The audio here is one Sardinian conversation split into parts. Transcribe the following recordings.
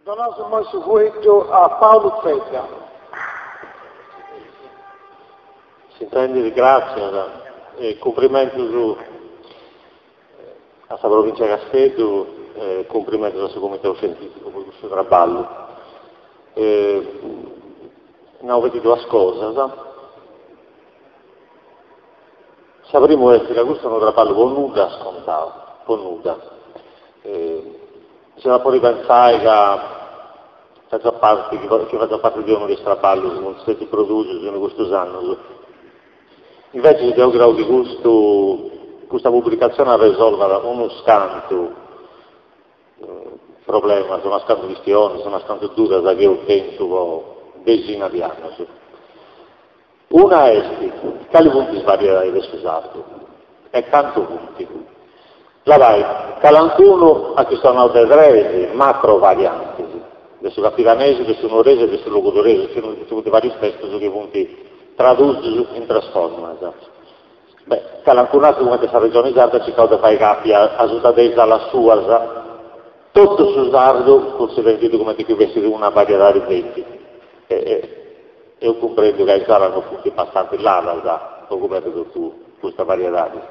Donaus immoi su fueddu a Paulu Zedda. S'intendit, gràtzias e cumprimentus a sa Provìntzia 'e Casteddu e cumprimentus a su Comitau Scientìficu po custu traballu. Nau feti duas cosas. Sa primu est ca custu est unu traballu po nudda scontau, po nudda. Si iat a podi pensai ca fatzat parti, chi fatzat parti de unu de is traballus chi eus produsiu in custus annus. Invècias deu creu chi custu, custa publicatzioni arresolvat unus cantu problemas, unas cantu chistionis, unas cantu dudas chi eus tentu po dexinas de annus. Una est, cali funt is variedadis de su sardu e cantu funt? Labai, calancunu at chistionau de tres macrovariantis, de su campidanesu, de su nuoresu e de su logudoresu, nci funt vàrius testus chi funt tradùsius in tres formas. Beh, calancunu ateru cumenti a sa Regioni Sarda at circau de fai capi asuta de is alas suas totu su sardu cunsiderendiddu cumenti chi fessit una variedadi feti e. Deu cumprendu ca is alas non funt abastantza ladas po coberri totu custas variedadis.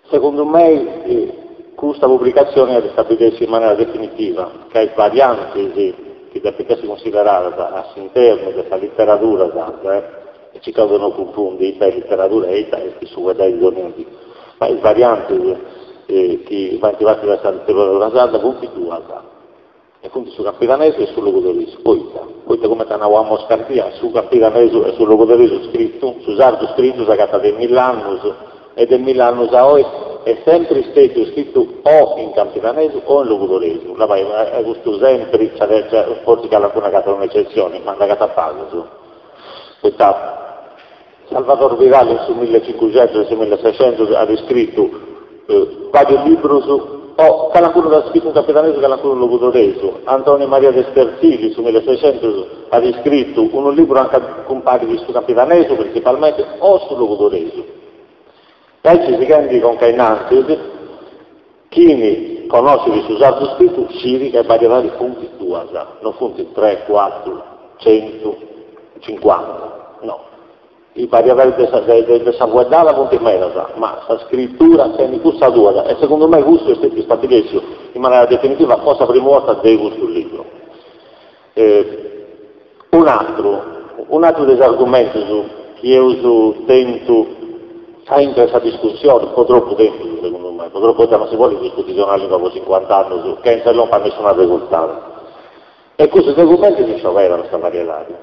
Segundu mei custa publicazioni at istabilèssiu in manera definitiva ca is variantis chi depint essi cunsideradas a s'internu de sa literadura sarda, e circaus de non cunfundi ita est literadura e ita est su fueddai de donnia dì, ma is variantis chi faint parti de sa literadura sarda funt duas. E funt su campidanesu e su logudoresu, poita, poita cumenti at nau Amos Cardia, su campidanesu e su logudoresu scritu, su sardu scritu s'agatat de milli annus, e de milli annus a oi est sempri stètiu scritu o in campidanesu o in logudoresu, labai custu sempri, nci at, fortzis calancunu agatat un'ecetzioni, ma nd'agatat pagus, poita, Salvador Vidal in su mille e cincuxentus in su mille e sescentus at iscritu vàrius librus, e calancunu dd'at scritu in campidanesu calancunu in logudoresu. Antoni Maria de Sterzili in su mille e sescentus at iscritu unu libru anca cumparit su campidanesu printzipalmenti o su logudoresu. Aici sighendi conca a innantis. Chini conoscit su sardu scritu sciri ca is variedadis funt duas, no funt tres, cuatru, centu, cincuanta, no, is variedadis de sa de sa fueddada funt medas, ma sa scritura tenit custas duas e segundu mei custu est stètiu stabilèssiu in manera definitiva po sa primu 'orta de custu libru. E un'atru, un'atru de is argumentus chi eus tentu aintru de sa discussioni, po tropu tempus segundu mei, po tropu poita non si podit discuti de una lingua po cincuant'annus chentza de lompi a nessun arresurtadu. Est cussu de cumenti si scioberant sa variedadi?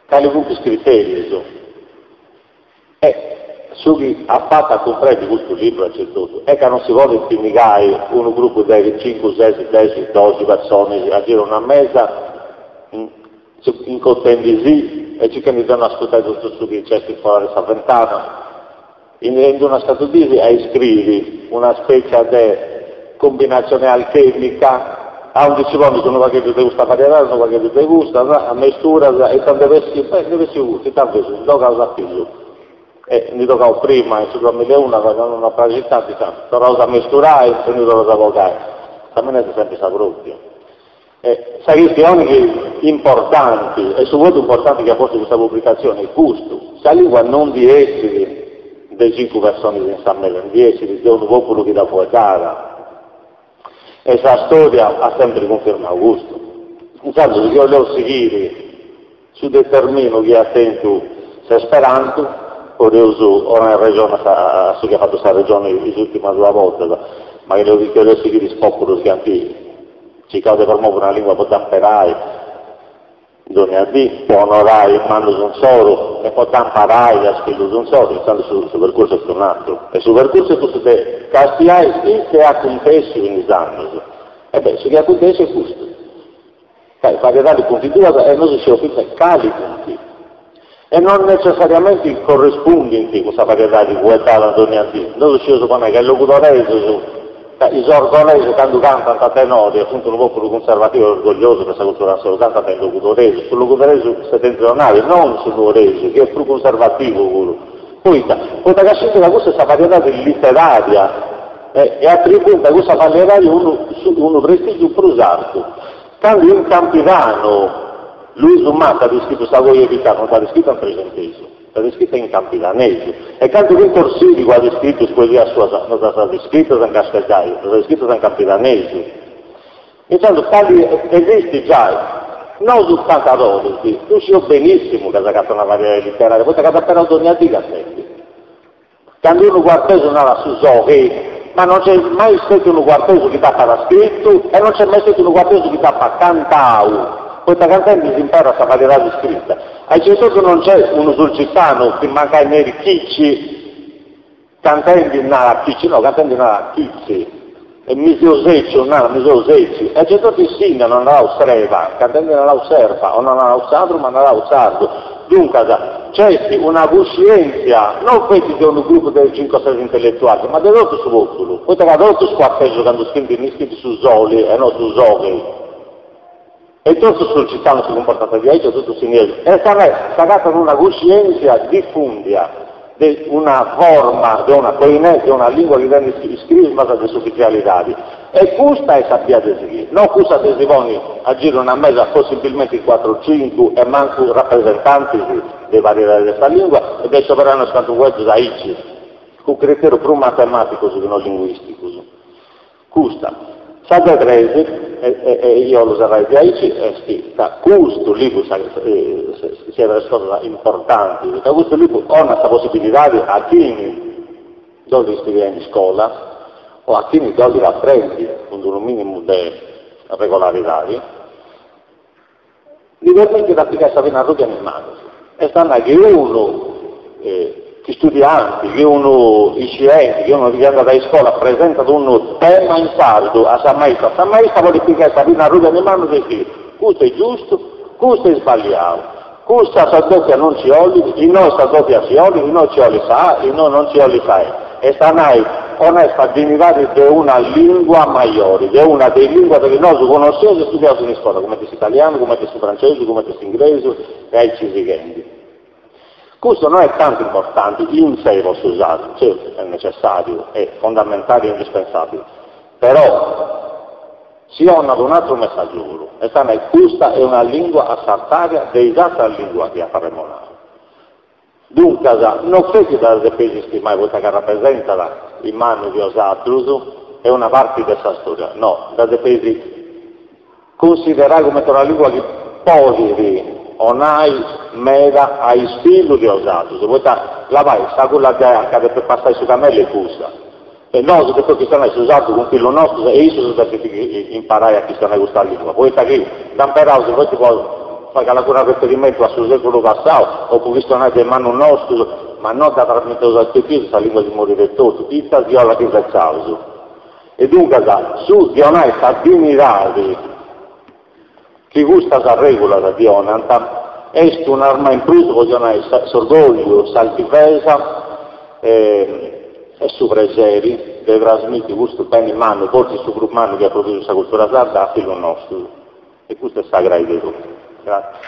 Cali funt is criterius? E su chi at fatu a cumprendi custu libru aici e totu est ca non si podit pinnigai unu grupu de cincu, ses, dexi, doxi personis a giru a una mesa incontrendisì e circhendi de no ascurtai totu su chi nc'est fora de sa ventana in in d'unas cantu dis a iscriri una spètzia de Cumbinatzione alchèmica, aundi si ponit unu pagheddu de custa variedade, unu pagheddu de custa, amesturas, e ita nd'est bessiu? Beh, nd'est bessiu custu, ita invece? Ndi bogaus a pillu. E ndi tocaus prima, in su duamileuno, a fai una non praxit, tandus, torraus a mesturai e ndi torraus a bogai? Sa mina est sempri sa pròpria. E sa chistioni chi importanti, e su votu importanti chi at postu custa publicatzioni est custu, sa lingua non ndi essit de cincu personis in sa mesa, ndi essit de unu pòpulu chi dda fueddat. E sa stòria at sèmpiri cunfirmau custu. Intzandus, chi 'oleus sighiri. Su determinu chi at tentu s'Esperantu, podeus donai arrexoni a su chi at fatu sa Regioni is ùrtimas duas bortas, ma chi detzideus de sighiri is pòpulus chi ant circau de promovi una lìngua po dda imperai dònnia dì, po onorai is mannus insoru e po dda imparai a is fillus insoru, intzandus su su percursu est un'aturu. E su percursu est cussu de castiai su chi nc'est acuntèssiu in is annus. E beh, su chi est acuntèssiu est custu. Ca is variedadis funt duas e nosu scieus fintzas cali funt. E non netzessariamenti correspundint cun sa variedadi fueddada dònnia dì. Nosu scieus po nai ca is logudoresus, ca is orgolesus candu cantant a tenore e funt unu pòpulu cunservativu e orgogliosu de sa cultura insoru, cantant in logudoresu, su logudoresu setentrionali, non su nuoresu, chi est prus cunservativu puru, poita, poita ca scint ca cussa est sa variedadi literaria. e atribuint a cussa variedadi unu unu prestìgiu prus artu. Candu in Campidanu Luisu Mata at iscritu Sa coja de Pitanu no dd'at iscrita in trexentesu, dd'at iscrita in campidanesu, e candu Pintor Sìrigu at iscritu is poesias suas no ddas at iscritas in casteddaiu, ddas at iscritas in campidanesu. Intzandus cali esistit giai? Nosu cantadores ddu scieus benìssimu ca s'agatat una variedadi literaria, poita ca dd'imperaus dònnia dì cantendi. Candu unu cuartesu narat su sohi, ma non nc'est mai stetiu unu cuartesu chi dd'apat scritu e non nc'est mai stetiu unu cuartesu chi dd'apat cantau, poita cantendi s'imperat sa variedadi scrita. Aici e totu non nc'est unu sulcitanu chi mancai nerit Chici, cantendi narat Chici, no, cantendi narat Chitzi. E mi seu sèciu, narat mi seu sètziu. E aici etotu in Sìnnia no ant narau sreba, ca ntendi narau serba, o no narau sadru, ma narau sardu. Duncas, nc'est una cuscièntzia, no feti de unu grupu de cincu o ses intelletualis, ma de totu su pòpulu, poita ca totus is cuartesus candu scrint iscrint su soli e no su soghi. E totus is sulcitanus si cumportant diaici e totus is sinniesus. E s'agatat una cuscièntzia difùndia de una forma, de una koiné, de una lìngua chi tenet is crismas de s'ufitzialidadi. E custa est sa bia de sighiri, no cussa de si ponni a giru 'e una mesa possibilmenti in cuatru cincu e mancu rapresentantis de is variedadis de sa lìngua e de isceberai unus cantu fueddus aici, cun criteru prus matemàticus chi no linguìsticus. Custa. Sa de tres, e io 'ollu serrai diaici, est ca custu libru, sa siat de is cosas importantis, ca custu libru 'onat sa possibilidadi a chini dd'ollit studiai in iscola, o a chini dd'ollit aprendi cun d'unu minimu de regolaridadi, Ddi permitit a pigai sa pinna arrùbia in manus, est a nai chi unu studianti, chi unu iscienti, chi unu chi andat a iscola presentat unu tema in sardu a sa maistra, sa maistra podit pigai sa pinna arrùbia in manus e sciri, custu est giustu, custu est sballiau, custa sa dòpia non nci 'olit, innoi sa dòpia nci 'olit, innoi nci 'olit sa A, innoi non nci 'olit sa E. Est a nai, 'onat sa dinidadi de una lingua majori, de una de is linguas chi nosu connosceus e studiaus in iscola, cumenti s'italianu, cumenti su francesu, cumenti s'ingresu e aici sighendi. Custu no est tanti importanti in sé po su sardu, certu est necessàriu e fondamentali e indispensàbili, però si 'onat un'atru messàgiu puru, est a nai, custa est una lingua a s'artària de is atras linguas chi apu arremonau. Duncas, no feti dda depeis istimai poita ca rapresentat, is mannus de osatrus, e una parti de sa storia, no, dda depeis cunsiderai cumenti una lingua chi podit 'onai meda a is fillus de osatrus, poita, labai, s'agulla de anca depit passai su camellu est cussa. E nosu depeus chistionai su sardu cun fillus nostus e issus depint imparai a chistionai custa lìngua, poita chi dd'imperaus feti po fai calancunu arreferimentu a su sèculu passau o po chistionai de mannus nostus, ma no dda trasmiteus a is pipius, sa lìngua si morit etotu, fintzas chi ola dd'invetzaus. E duncas, su ddi 'onai sa dignidadi. Chi custas règulas ddi 'onant est un'arma in prus po si 'onai s'orgògliu, s'altivesa e su preseri de trasmiti custu beni mannu, fortzis su prus mannu chi at produtu sa cultura sarda, a fillus nostus. E custu est sa crai de totu. Gratzias.